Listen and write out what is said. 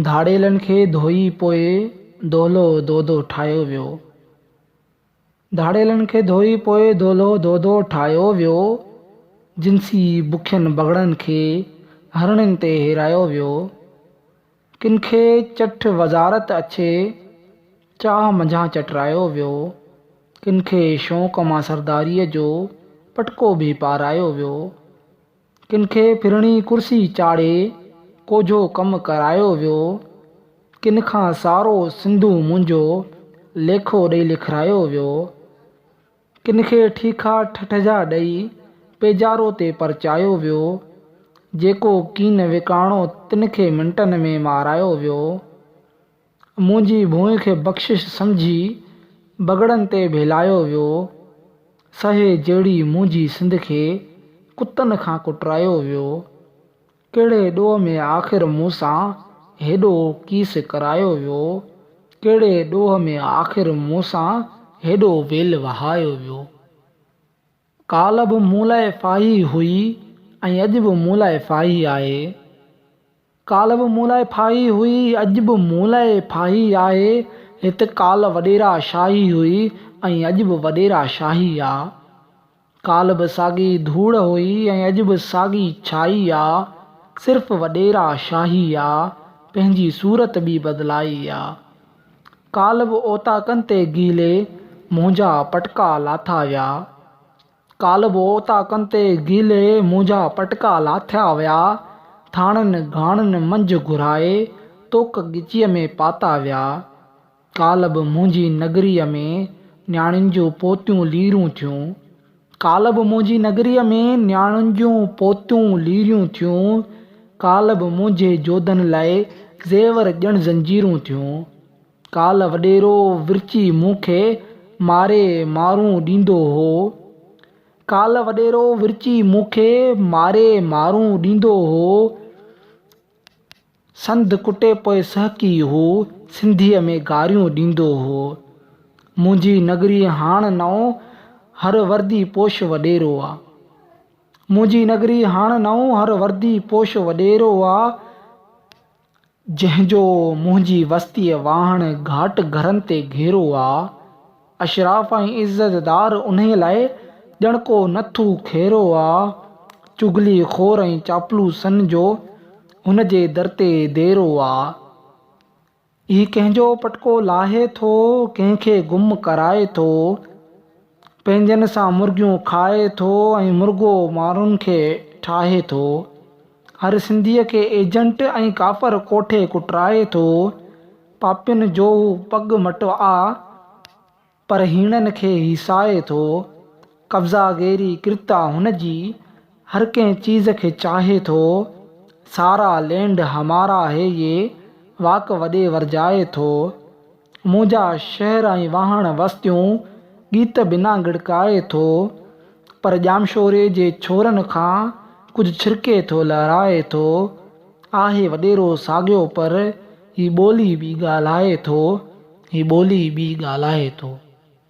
ڌاڙيلن کي ڌوئي پوء دولهو دودو ٺاهيو ويو. ڌاڙيلن کي ڌوئي پوء دولهو دودو ٺاهيو ويو. جنسي بکين بگهڙن کي هرڻين تي هيرايو ويو. ڪن کي چٺ وزارت اڇي چاهه منجهان چٽرايو ويو. ڪن کي شوق مان سرداريء جو پٽڪو به پارايو ويو. ڪن کي ڦرڻي ڪرسي چاڙهي ڪوجهو ڪم ڪرايو ويو، ڪن کان سارو سنڌو منهنجو ليکو ڏئي لکرايو ويو، ڪن کي ٺيڪا ٺٺ جا ڏئي پيجارو تي پرچايو ويو، جيڪو ڪين وڪاڻو تن کي منٽن ۾ مارايو ويو. منهنجي ڀونء کي بخشش سمجهي بگهڙن تي ڀيلايو ويو. سهي جهڙي منهنجي سنڌ کي ڪتن کان ڪٽرايو ويو. ڪهڙي ڏوهه ۾ آخر مون سان هيڏو ڪيس ڪرايو ويو. ڪهڙي ڏوهه ۾ آخر مون سان هيڏو ويل وهايو ويو. ڪالهه به مون لاء ڦاهي هئي ۽ اڄ به مون لاء ڦاهي آهي. ڪالهه به مون لاء ڦاهي هئي، اڄ به مون لاء ڦاهي آهي. هت ڪالهه وڏيرا شاهي هئي ۽ اڄ به وڏيرا شاهي آ. ڪالهه به ساڳي ڌوڙ هئي ۽ اڄ به ساڳي ڇائي آ. صرف وڏيرا شاهي آ، پنهنجي صورت ٻي بدلائي آ. ڪالهه به اوطاقن تي گيلي منهنجا پٽڪا لاٿا ويا ڪالهه به اوطاقن تي گيلي منهنجا پٽڪا لاٿا ويا ٿاڻن گهاڻن منجهه گهرائي توڪ ڳچيء ۾ پاتا ويا ڪالهه به منهنجي نگريء ۾ نياڻين جون پوتيون ليرون ٿيون. ڪالهه به منهنجي نگريء ۾ نياڻين جون پوتيون ليريون ٿيون، ڪالهه به منهنجي جوڌن لاء زيور ڄڻ زنجيرون ٿيون. ڪالهه وڏيرو ورچي مون کي ماري مارون ڏيندو هو. ڪالهه وڏيرو ورچي مون کي ماري مارون ڏيندو هو. سنڌ ڪٽي پوء سهڪي هو سنڌيء ۾ گاريون ڏيندو هو. منهنجي نگري هاڻ نئون هر وردي پوش وڏيرو آ. منهنجي نگري هاڻ نئون هر وردي پوش وڏيرو آ. جنهن جو منهنجي وستيء واهڻ گهاٽ گهرن تي گهيرو آ. اشراف ۽ عزتدار انهيء لاء ڄڻ ڪو نٿو کيرو آ، چغلي خور ۽ چاپلوسن جو هن جي در تي ديرو آ. هي ڪنهن جو پٽڪو لاهي ٿو، ڪنهن کي گم ڪرائي ٿو، پنهنجن سان مرغيون کائي ٿو ۽ مرغو ماڻهن کي ٺاهي ٿو. هر سنڌيء کي ايجنٽ ۽ ڪافر ڪوٺي ڪٽرائي ٿو. پاپين جو هو پڳ مٽو آ، پر هيڻن کي هي ساهي ٿو. قبضا گيري ڪرتا هن جي، هر ڪنهن چيز کي چاهي ٿو. سارا لينڊ همارا هي يي، واڪ وڏي ورجائي ٿو. منهنجا شهر ۽ واهڻ وستيون، ڳيت بنا ڳڙڪائي ٿو. پر ڄامشوري جي ڇورن کان، ڪجهه ڇرڪي ٿو لهرائي ٿو. آهي وڏيرو ساڳيو پر. هي ٻولي ٻي ڳالهائي ٿو. هي ٻولي ٻي ڳالهائي ٿو.